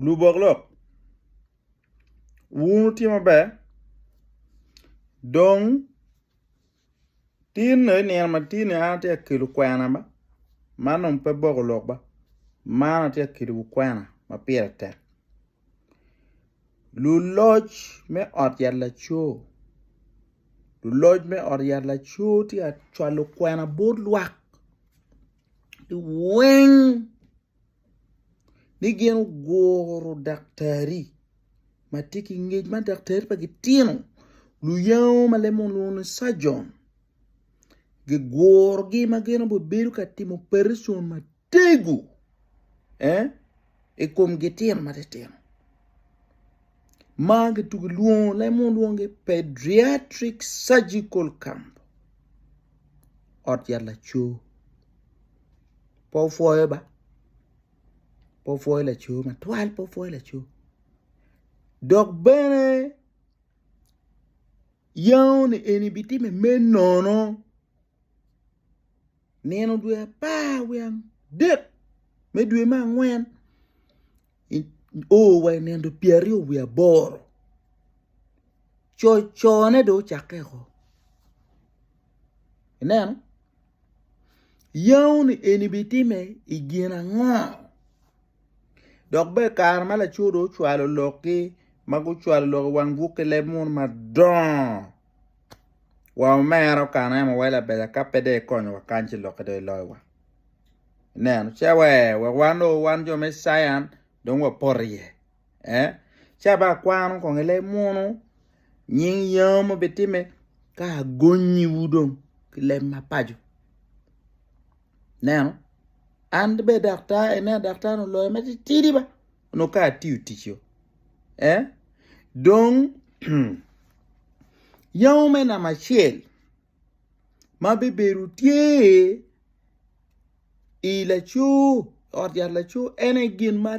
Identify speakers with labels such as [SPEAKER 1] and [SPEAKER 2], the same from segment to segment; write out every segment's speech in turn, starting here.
[SPEAKER 1] Lubok lok wun wutye maber dong tin ni nino matin ni an atye ka kelo kwena ma man dong pe boko lok ba man atye ka kelo kwena ma pire tek luloc me ot yat laco luloc me ot yat laco tye ka cwalo kwena bot lwak weng. ni gin oguro daktari ma tye ki ngec ma daktari pa gitino luyango ma lemo lwongo ni cajon gigurogi ma gin obibedo ka timo opereson matego i kom gitino matitino ma gitugo lwongo leb mo lwongo ni pediatric surgical camp ot yat laco pe opwoyo ba pe opwoyo laco matwal pe opwoyo laco dok bene yango ni eni bitime me nono nino dwe apar wiye adek me dwe me angwen o wa i nino pyeraryo wiye aboro cocone dong ocakke woko ineno yao ni eni bitime i gin ango dok bene kare ma laco dong ocwalo lokgi ma gucwalo lok i wang buk ki leb munu madongo wa omera okane wa labeca ka pe dong ikonyowa kany ci lokke dong iloyo wa. nen ca wa wek wan o wan jo me cience dong wa poto iye eh ca ba kwano kong ile munu nying yam obi time ka agonyi wu dong ki leb ma paco neno an be daktar ene daktar no loyo ma titidi ba no ka atiyo tic yo eh dong yamo me namba acel ma bibedo tye i laco ot yat laco en aye gin ma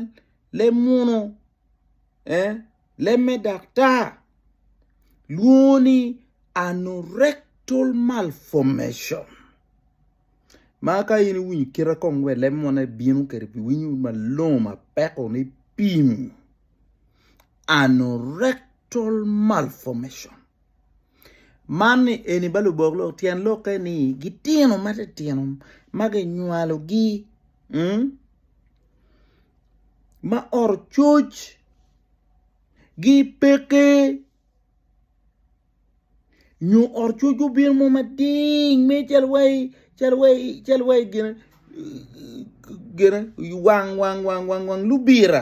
[SPEAKER 1] leb munu leb me daktar lwongo ni anorectal malformation ma ka in iwinyo kite kong wa i leb munu ibino kwede pi iwinyo malongo ma peko ni pim anorectal malformation. Man ni eni ba lubok lok tyen lokke ni gitino ma titino ma kinywalogi ma oro coc gi peke nyo oro coc obino mo mading me calo wai calo wai calo wai gin gin wang wang wang lubira.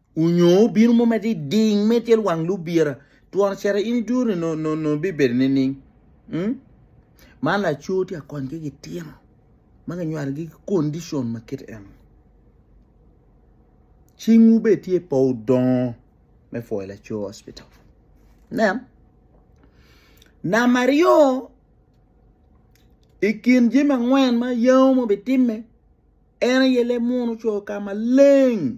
[SPEAKER 1] onyo obino mo ma diding me tyel wang lubira twon cere in idure no no no bibedo ni ning mm? man laco tye akony ki gitino ma kinywaro gi condition ma kit en cingwu be tye po odongo me foyo laco hospital nen nama ryo i kin jami angwen ma yango ma bitimme en aye le muno co ka maleng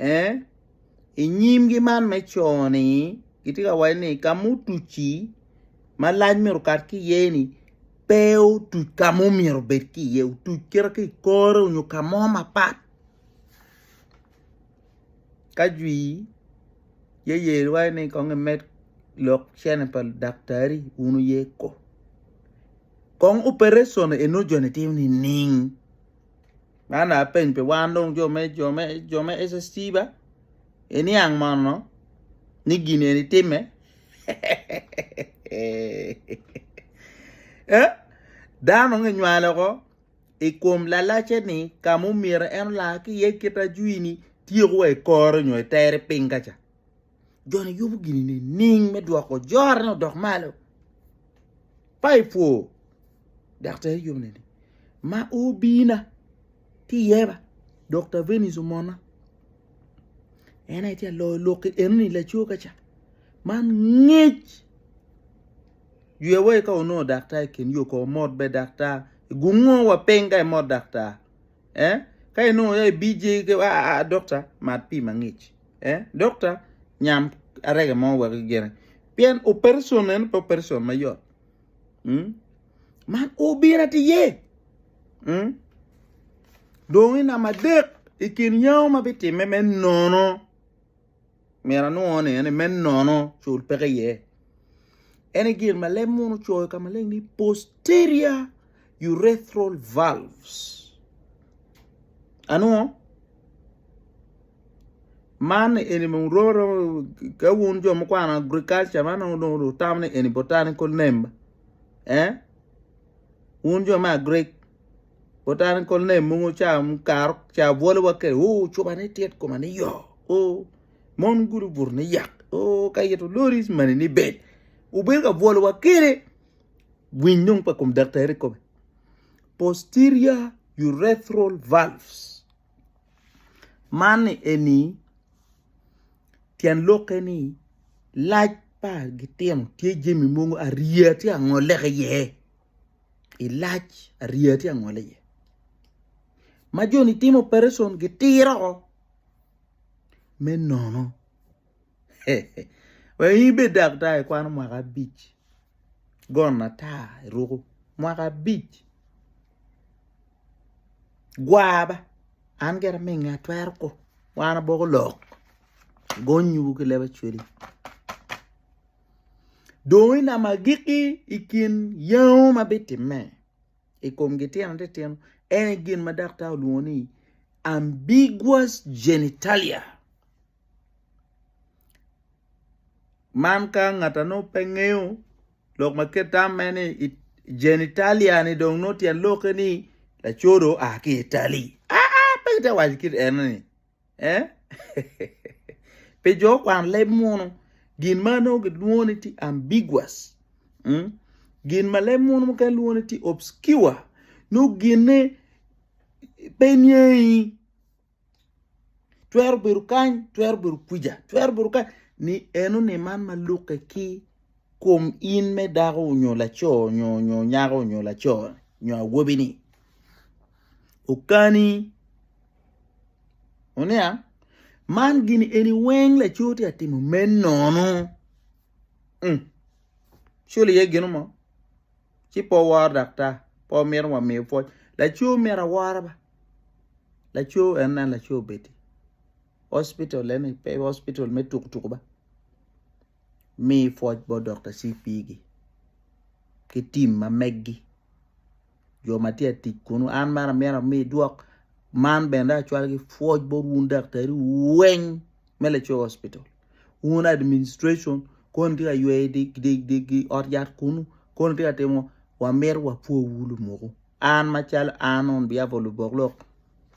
[SPEAKER 1] Ee, i nyimgi man me co-ni kitye ka waco ni ka ma otuc-ci ma lac myero okat ki iye-ni pe otuc ka ma omyero obed ki iye, otuc kite ki i kore nyo ka mo mapat ka jwi yeye waco ni kong imed lok cene pa ludaktari wun wuye ko, kong opereson eno joni timo nining? Man aye peny pi wan dong jo me jo me jo me SST ba iniang mono ni gin eni timme Eh, dano nge nywale oko i kom lalace ni ka mumyero en ola ki iye kit ajwini tyeko wa i kore nyo itere piny kaca. joni yubo gini nining me dwoko jorone odok malo pa ipwo dok tera yubo nining ma obina ti yeba dokta venis omona en aye ti aloyo lok enoni laco kaca man ngec jwewa ka onongo daktar i kin yo ko omot be daktar gungo wa piny ka imot daktar eh ka inongo ya ibj ke a a a dokta mat pii mangic eh dokta nyam arega mo wek gene pien operation en pe operation mayot mm? man obina ti ye mm? dong i nama adek i kin yao ma bitimme me nono Myero anwongo ni ene me nono cul peke iye. Ene gin ma leb munu coyo ka maleng ni posterior urethral valves. Anwongo man eni mung romo romo ka wun jo mukwano agriculture man nongo dong utamo ni eni botanical name eh wun jo me agrik Kutani kol ne mungu ca karo ca bwolo wa ke o coba ne tit koma ne yo o mon gudu butu ne yak o ka ito lori mani ni bed ubed ka bwolo wa kere winy nung pa kum daktari kome posterior urethral valves man ni eni tyen loke ni lac pa gitino tye jemi mungu ariya tye angole ki ye. i lac ariya tye angole iye ma joni timo opereson gitiro woko me nono wa in ibed daktar ikwano mwaka abic gonna ata iruko mwaka abic gwar ba an gire aminge atwero kong wan aboko lok gonyowu ki leb acwali Dong i namo agikki i kin yengo ma bitimme i kom gitino titino en aye gin ma daktar olwongo ni ambiguous genitalia. Man ka ngat a nongo pe ngeyo lok ma kite tamme ni genitalia ni dong nongo tyen lokke ni laco dong oa ki itali aa pe kitye ka waco kit eno ni. Eh? Pi jo kwan leb munu, gin ma nongo gilwongo ni ti ambiguous. Mm? Gin ma leb munu mukene lwongo ni ti obscure. Nongo ginne pe niangi. Twero bedo kany, twero bedo kwica, twero bedo kany. Ni eno ni man ma lukke ki kom in me dako nyo laco nyo nyo nyako nyo laco nyo awobi ni okani Oniang? Man gini eni weng laco tye ka timo me nono. Um. Cul iye gino mo. Ci pe woworo daktar, pe womito wamiyo pwoc. Laco myero awora ba. Laco en nen laco obed-di. Hospital eni pe hospital me tuku tuku ba. Mi pwoc bot Dokta CP-gi ki tim ma meggi. jo ma tye ka tic kunu an meno amyero ami dwok man bene dong acwal ki pwoc bot wun daktari weng me Lacoo Hospital wun administration koni tye ka yweyo di, di, di, di ot yat kunu koni tye ka timo wamito wapwowu lumuku an macalo an on behalf of lubok lok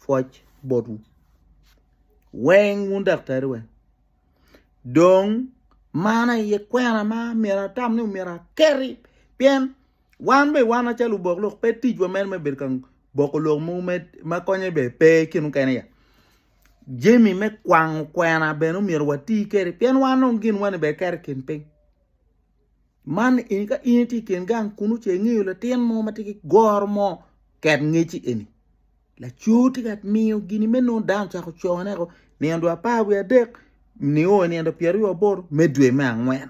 [SPEAKER 1] pwoc botwu weng wun daktari weng dong man aye kwena ma myero atam ni myero akeri pien Wan bene wan acalo obok lok pe ticwa mere me bedo ka boko lok mogo ma konye bene pe ki mukene ya jami me kwango kwena bene omyero wati kwede pien wan dong gin wani bene keto i kin piny man eni ka in itye i kin gang kunu ce ingeyo latin mo ma tye ki goro mo ket ngeci eni laco tye ka miyo gini me nongo dano ocako cone woko nino dwe apar wiye adek nio nino dwe pyeraryo aboto me dwe me angwen.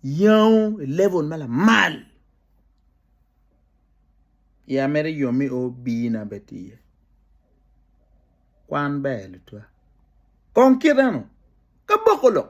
[SPEAKER 1] Yengo i level ma lamal iya mere yom ni obir na bene tye iye kwan ber tutwal kong kit eno ka boko lok.